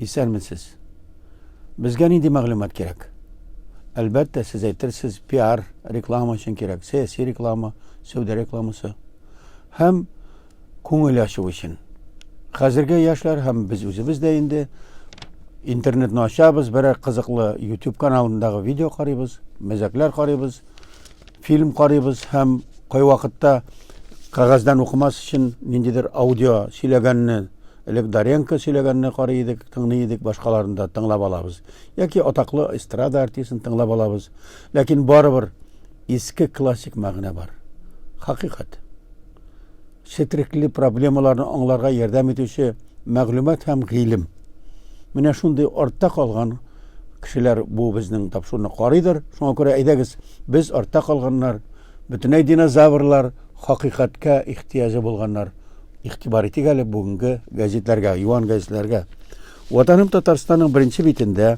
Исәнмесез. Безгә нинди мәгълүмат кирәк? Әлбәттә, сез әйтерсез, пиар, реклама өчен кирәк, сәяси реклама, сәүдә рекламасы. Һәм Күңел ачу өчен. Хәзерге яшьләр һәм без үзебез дә инде интернетны ачабыз, берәр кызыклы YouTube каналындагы видео карыйбыз, мәзәкләр карыйбыз, фильм карыйбыз һәм кайвакытта кәгазьдән укымас өчен ниндидер аудио сөйләгәнне, элек Даренко сөйләгәнне карый идек, тыңлый идек, башкаларны да тыңлап алабыз. Яки атаклы эстрада артистын тыңлап алабыз. Ләкин барыбер иске классик мәгънә бар. Хакыйкать. Четерекле проблемаларны аңларга ярдәм итүче мәгълүмат һәм гыйлем. Менә шундый артта калган кешеләр бу безнең тапшыруны карыйдыр. Шуңа күрә әйдәгез, без артта калганнар, бөтенләй динозаврлар, хакыйкатькә ихтыяҗы булганнар. Игътибар итик әле бүгенге газетләргә, юан газетләргә. Ватаным Татарстанның беренче битендә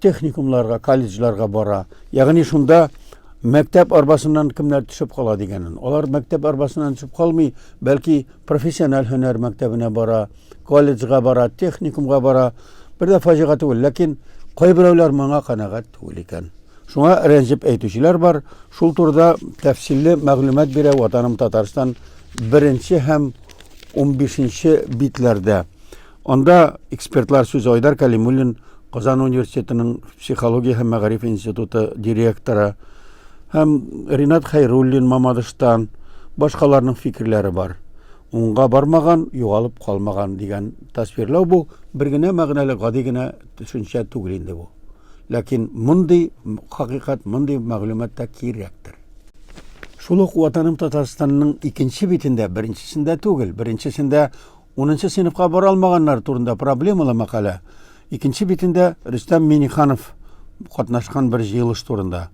техникумларга, колледжларга бара. Ягъни шунда мәктәп арбасыннан кемнәр төшеп кала дигәнен. Алар мәктәп арбасыннан төшеп калмый, бәлки профессиональ һөнәр мәктәбенә бара, колледжга бара, техникумга бара. Бер дә фаҗига түгел, ләкин кайберәүләр моңа канәгать түгел икән. Шуңа рәнҗеп әйтүчеләр бар. Шул турыда тәфсилле мәгълүмат бирә Ватаным Татарстан беренче һәм 15 нче битләрдә. Анда экспертлар сүз Айдар Калимуллин, Казан университетының психология һәм мәгариф институты директоры, һәм Ринат Хайруллин Мамадыштан башкаларның фикерләре бар. Уңга бармаган, югалып калмаган дигән тасвирлау бу бер генә мәгънәле гади генә төшенчә түгел инде бу. Ләкин мондый хакыйкать, мондый мәгълүмат та кирәктер. Шул ук Ватаным Татарстанның икенче битендә, беренчесендә түгел, беренчесендә Унынчы сыйныфка бара алмаганнар турында проблемалы мәкалә. Икенче битендә Рөстәм Миниханов катнашкан бер җыелыш турында.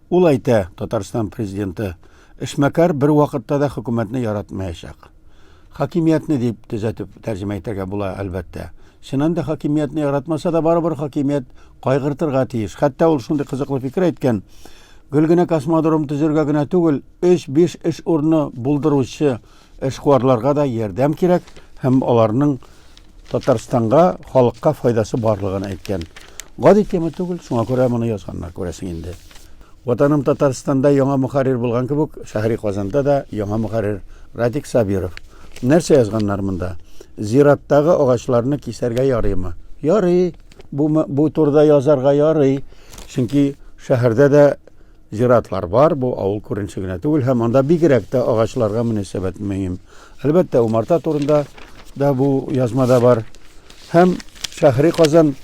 Ул әйтә, Татарстан президенты эшмәкәр бер вакытта да хөкүмәтне яратмаячак. Хакимиятне дип төзәтеп тәрҗемә итәргә була, әлбәттә. Чыннан да хакимиятне яратмаса да барыбер хакимият кайгыртырга тиеш. Хәтта ул шундый кызыклы фикер әйткән, гел генә космодром төзергә генә түгел, 3-5 эш урыны булдыручы Эшкуарларга да ярдәм кирәк һәм аларның Татарстанга, халыкка файдасы барлыгын әйткән. Гади тема түгел, шуңа күрә моны язганнар, күрәсең инде. Ватаным Татарстанда яңа мөхәррир булган кебек, шәһри Казанда да яңа мөхәррир Радик Сабиров. Нәрсә язганнар монда? Зираттагы агачларны кисәргә ярыймы? Ярый. Бу, бу турыда язарга ярый. Чөнки шәһәрдә дә Зиратлар бар, бу авыл күренеше генә түгел һәм анда бигрәк тә агачларга мөнәсәбәт мөһим. Әлбәттә, умарта турында да бу язмада бар. Һәм шәһри Казан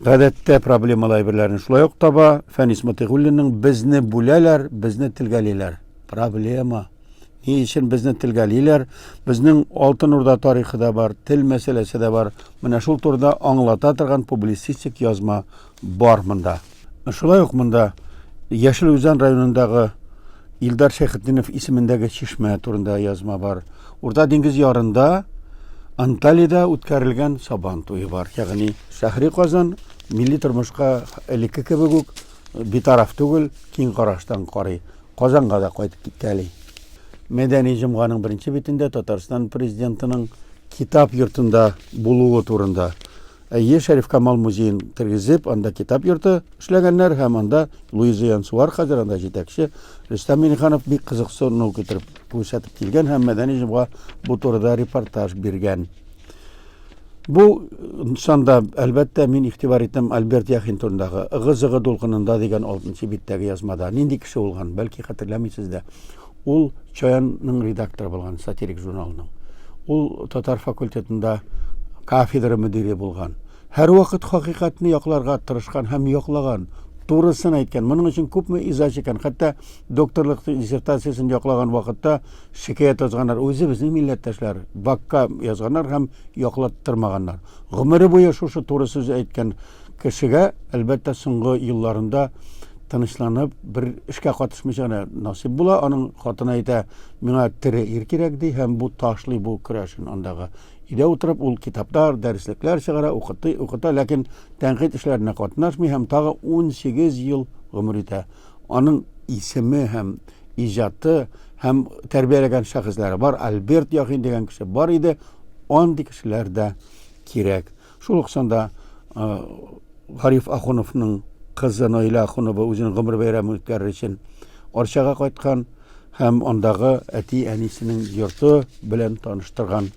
гадәттә проблемалы әйберләрне шулай ук таба. Фәнис Мотыйгуллинның Безне бүләләр, безне телгәлиләр. Проблема. Ни өчен безне телгәлиләр? Безнең Алтын Урда тарихы да бар, тел мәсьәләсе дә бар. Менә шул турыда аңлата торган публицистик язма Бар монда. Шулай ук монда Яшел Үзән районындагы Илдар Шәйхетдинов исемендәге чишмә турында язма бар. Урта диңгез ярында Анталида үткәрелгән Сабан туе бар. Ягъни шәһри Казан милли тормышка элекке кебек үк битараф түгел, киң караштан карый. Казанга да кайтып китәли. Мәдәни җомганың беренче битендә Татарстан президентының китап йортында булуы турында Әйе, Шәрифкамал музеен тергезеп, анда китап йорты эшләгәннәр һәм анда Луиза Янсуар, хәзер анда җитәкче, Рөстәм Миңнеханов бик кызыксыну китереп күрсәтеп килгән һәм Мәдәни җомга бу турыда репортаж биргән. Бу санда, әлбәттә, мин игътибар иттем Альберт Яхин турындагы Ыгы-зыгы дулкынында дигән алтынчы биттәге язмада. Нинди кеше булган, бәлки хәтерләмисез дә. Ул Чаянның редакторы булган, сатирик журналының. Ул татар факультетында кафедра мөдире булган. Һәрвакыт хакыйкатьне якларга тырышкан һәм яклаган, турысын әйткән. Моның өчен күпме иза чиккән. Хәтта докторлык диссертациясен яклаган вакытта шикаять язганнар. Үзе безнең милләттәшләр бакка язганнар һәм яклаттырмаганнар. Гомере буе шушы туры сүз әйткән Кешегә, әлбәттә, соңгы елларында тынычланып, бер эшкә катышмыйча гына насыйп була. Аның хатыны әйтә, миңа тере ир кирәк, ди, һәм бу ташлый бу көрәшен андагы. Өйдә утырып, ул китаплар, дәреслекләр чыгара, укытый, укыта, ләкин тәнкыйть эшләренә катнашмый һәм тагы 18 ел гомер итә. Аның исеме һәм иҗаты һәм тәрбияләгән шәхесләре бар. Альберт Яхин дигән кеше бар иде, андый кешеләр дә кирәк. Шул ук санда Гариф Ахуновның кызы Наилә Ахунова үзенең гомер бәйрәмен үткәрер өчен Арчага кайткан һәм андагы әти-әнисенең йорты белән таныштырган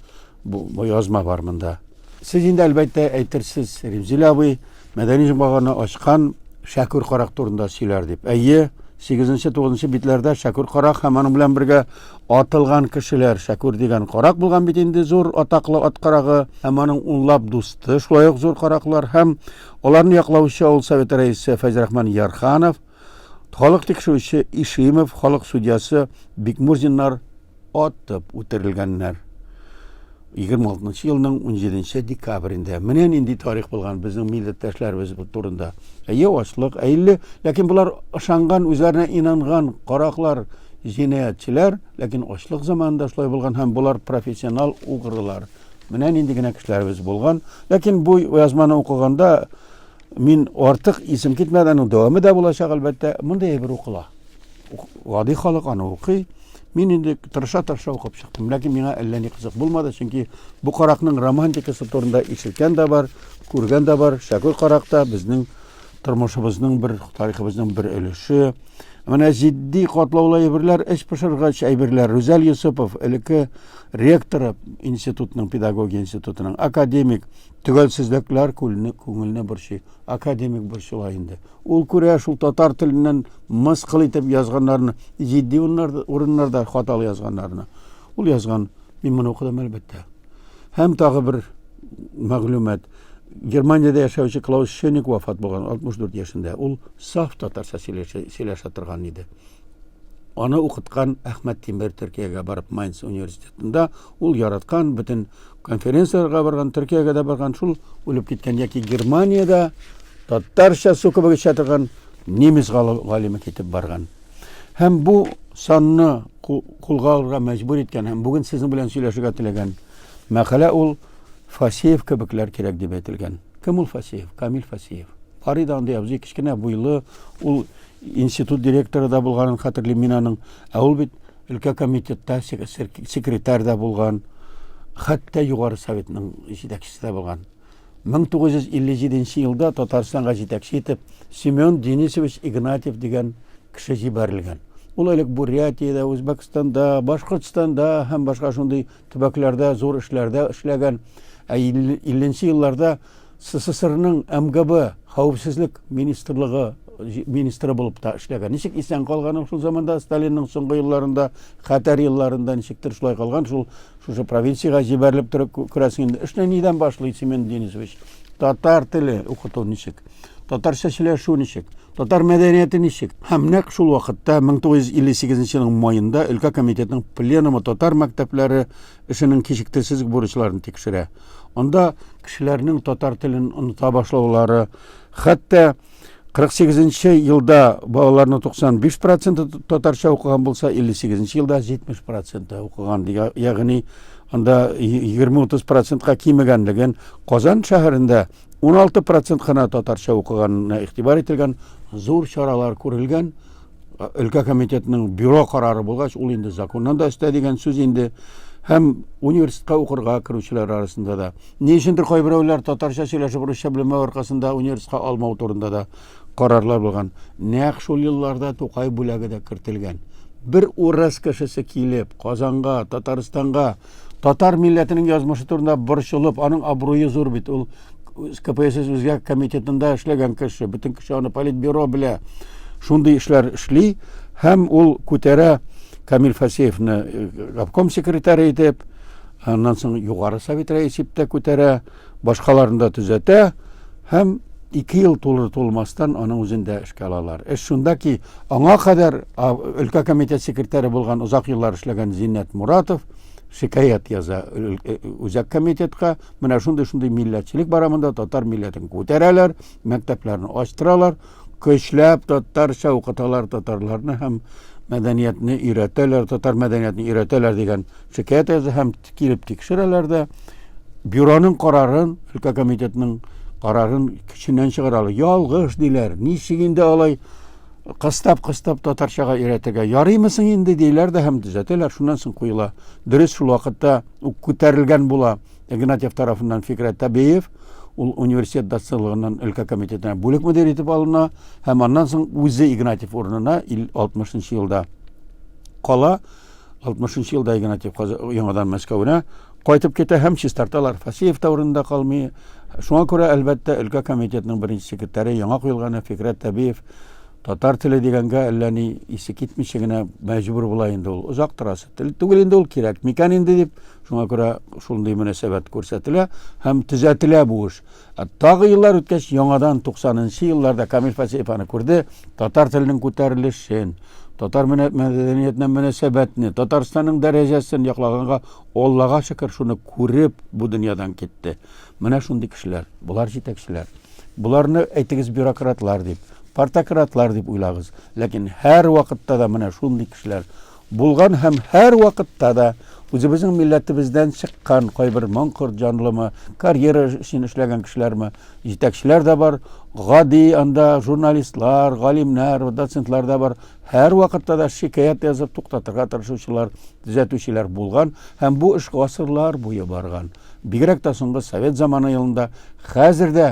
бу язма бар монда. Сез инде әлбәттә әйтерсез, Римзилә абый мәдәни җомганы ачкан Шәкүр карак турында сөйләр дип. Әйе, 8-9 битләрдә Шәкүр карак һәм аның белән бергә Атылган кешеләр, Шәкүр дигән карак булган бит инде, зур атаклы ат карагы һәм аның унлап дусты, шулай ук зур караклар һәм аларны яклаучы авыл советы рәисе Фәйзрахман Ярханов, халык тикшерүче Ишимов, халык судьясы Бикмурзиннар атып үтерелгәннәр. 26 нчы елның 17 нче декабрендә. Менә нинди тарих булган безнең милләттәшләребез турында. Әйе, ачлык, әйле, ләкин болар ышанган, үзләренә инанган караклар, җинаятьчеләр, ләкин ачлык заманында шулай булган һәм болар профессионал угрылар. Менә нинди генә кешеләребез булган. Ләкин бу язманы укыганда мин артык исем китмәде, аның дәвамы да булачак, әлбәттә, монда әйбер укыла. гади халык аны укый. Мин инде тырыша-тырыша укып чыктым, ләкин миңа әллә ни кызык булмады, чөнки бу каракның романтикасы турында ишеткән дә бар, күргән дә бар. Шәкүр карак та безнең тормышыбызның бер, тарихыбызның бер өлеше. Менә җитди катлаулы әйберләр, эч пошыргач әйберләр. Рүзәл Йосыпов, элекке ректоры институтның, педагогия институтының, академик, төгәлсезлекләр күңелне борчый. Академик борчыла инде. Ул күрә шул татар теленнән мыскыл итеп язганнарны, җитди урыннарда хаталы язганнарны. Ул язган, мин моны укыдым әлбәттә. Һәм тагы бер мәгълүмат. Германиядә яшәүче Клаус Шеник вафат булган 64 яшендә. Ул саф татарча сөйләшә торган иде. Аны укыткан Әхмәт Тимер Төркиягә барып Майнц университетында ул яраткан бөтен конференцияләргә барган, Төркиягә дә барган, шул үлеп киткән яки Германиядә татарча су кебек эчә торган немец галиме китеп барган. Һәм бу санны кулга алырга мәҗбүр иткән һәм бүген сезнең белән сөйләшергә теләгән мәкалә ул Фасеев кебекләр кирәк дип әйтелгән. Кем ул Фасеев? Камил Фасеев. Фарида андый абзый кечкенә буйлы, ул Институт директоры да булганын хәтерлим мин аның. Ә ул бит өлкә комитетта секретарь да булган, хәтта Югары Советның җитәкчесе дә булган. 1957 елда Татарстанга җитәкче итеп Семен Денисович Игнатьев дигән кеше җибәрелгән. Ул элек Бурятиядә, Үзбәкстанда, Башкортстанда һәм башка шундый Төбәкләрдә зур эшләрдә эшләгән, ә 50 нче елларда СССРның МГБ хәвефсезлек министрлыгы министры булып та эшләгән. Ничек исән калган ул шул заманда Сталинның соңгы елларында, хәтәр елларында ничектер шулай калган, шул шушы провинциягә җибәрелеп торып күрәсең инде. Эшне нидән башлый Семен Денисович? Татар теле укыту ничек? Татарча сөйләшү ничек? Татар мәдәнияте ничек? Һәм нәкъ шул вакытта, 1958 елның маенда, өлкә комитетының пленумы татар мәктәпләре эшенең кичектерсез бурычларын тикшерә. Анда кешеләрнең татар телен оныта башлаулары, хәтта 48 елда балаларның 95 проценты татарча укыган булса, 58 елда 70 проценты укыган. Ягъни анда 20-30 процентка кимегәнлеген Казан шәһәрендә 16 процент кына татарча укыганына игътибар ителгән, зур чаралар күрелгән. Өлкә комитетының бюро карары булгач, ул инде законнан да өстә дигән сүз инде. Һәм университетка укырга керүчеләр арасында да. Ни өчендер кайберәүләр татарча сөйләшеп русча белмәү аркасында университетка алмау турында да карарлар булган. Нәкъ шул елларда Тукай бүләге дә кертелгән. Бер урыс кешесе килеп, Казанга, Татарстанга Татар милләтенең язмышы турында борчылып, аның абруе зур бит. Ул КПСС үзгә комитетында эшләгән кеше, бөтен кеше аны политбюро белә. Шундый эшләр эшли һәм ул күтәрә Камил Фасеевны э, обком секретаре итеп, аннан соң югары совет рәисе итеп тә күтәрә. Башкаларны да төзәтә һәм ике ел тулыр-тулмастан аның үзен дә эшкә алалар. Эш шунда ки, аңа кадәр өлкә комитет секретаре булган озак еллар эшләгән Зиннәт Моратов шикаять яза үзәк комитетка, менә шундый-шундый милләтчелек бара монда, татар милләтен күтәрәләр, мәктәпләрне ачтыралар. Көчләп татарча укыталар татарларны һәм мәдәниятне өйрәтәләр, татар мәдәниятен өйрәтәләр дигән шикаять язды һәм килеп тикшерәләр дә бюроның карарын, өлкә комитетының карарын көченнән чыгаралар. Ялгыш диләр. Ничек инде алай кыстап-кыстап татарчага өйрәтергә ярыймысың инде диләр дә һәм төзәтәләр. Шуннан соң куела. Дөрес шул вакытта ук күтәрелгән була. Игнатьев тарафыннан Фикрәт Табеев ул университет доцентлыгыннан өлкә комитетына бүлек мөдире итеп алына һәм аннан соң үзе Игнатьев урынына 60 елда кала. 60 елда Игнатьев яңадан Мәскәүгә кайтып китә һәм чистарталар. Фасеев та урынында калмый. Шуңа күрә, әлбәттә, өлкә комитетының беренче секретаре яңа куелганы Фикрәт Табиев Татар теле дигәнгә әллә ни исе китмичә генә мәҗбүр була инде ул. Озак торасы. Тел түгел инде ул кирәк. Микән инде дип, шуңа күрә шундый мөнәсәбәт күрсәтелә һәм төзәтелә бу эш. Ә тагы еллар үткәч, яңадан 90 нчы елларда Камил Фасеев аны күрде, татар теленең күтәрелешен, татар мәдәниятенә мөнәсәбәтне, Татарстанның дәрәҗәсен яклаганга, Аллага шөкер, шуны күреп, бу дөньядан китте. Менә шундый кешеләр, болар җитәкчеләр. Боларны әйтегез бюрократлар дип, партократлар дип уйлагыз. Ләкин һәр вакытта да менә шундый кешеләр булган һәм һәр вакытта да үзебезнең милләтебездән чыккан кайбер моңкорт җанлымы, карьера өчен эшләгән кешеләрме, җитәкчеләр дә бар, гади анда журналистлар, галимнәр, доцентлар да бар. Һәр вакытта да шикаят язып туктатырга тырышучылар, төзәтүчеләр булган һәм бу эш гасырлар буе барган. Бигрәк тә соңгы совет заманы елында, хәзер дә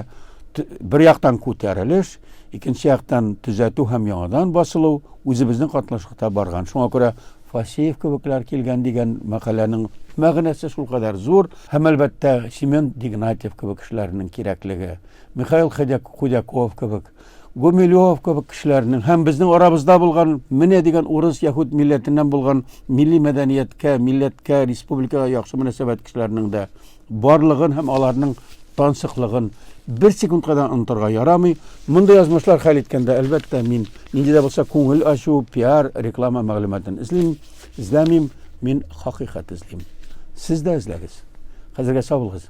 бер яктан күтәрелеш, икенче яктан төзәтү һәм яңадан басылу үзебезнең катнашлыкта барган. Шуңа күрә Фасеев кебекләр килгән дигән мәкаләнең мәгънәсе шулкадәр зур һәм әлбәттә Семен Дигнатьев кебек кешеләрнең кирәклеге, Михаил Худяков кебек Гумилёв кебек кешеләрнең һәм безнең арабызда булган менә дигән урыс яһүд милләтеннән булган милли мәдәнияткә, милләткә, республикага яхшы мөнәсәбәт кешеләрнең дә барлыгын һәм аларның тансыклыгын бер секундка да онтырга ярамый. Мондый язмышлар хәл иткәндә, әлбәттә, мин нинди дә булса күңел ачу, пиар, реклама мәгълүматын эзлим, эзләмим, мин хакыйкать эзлим. Сез дә эзләгез. Хәзергә сау булыгыз.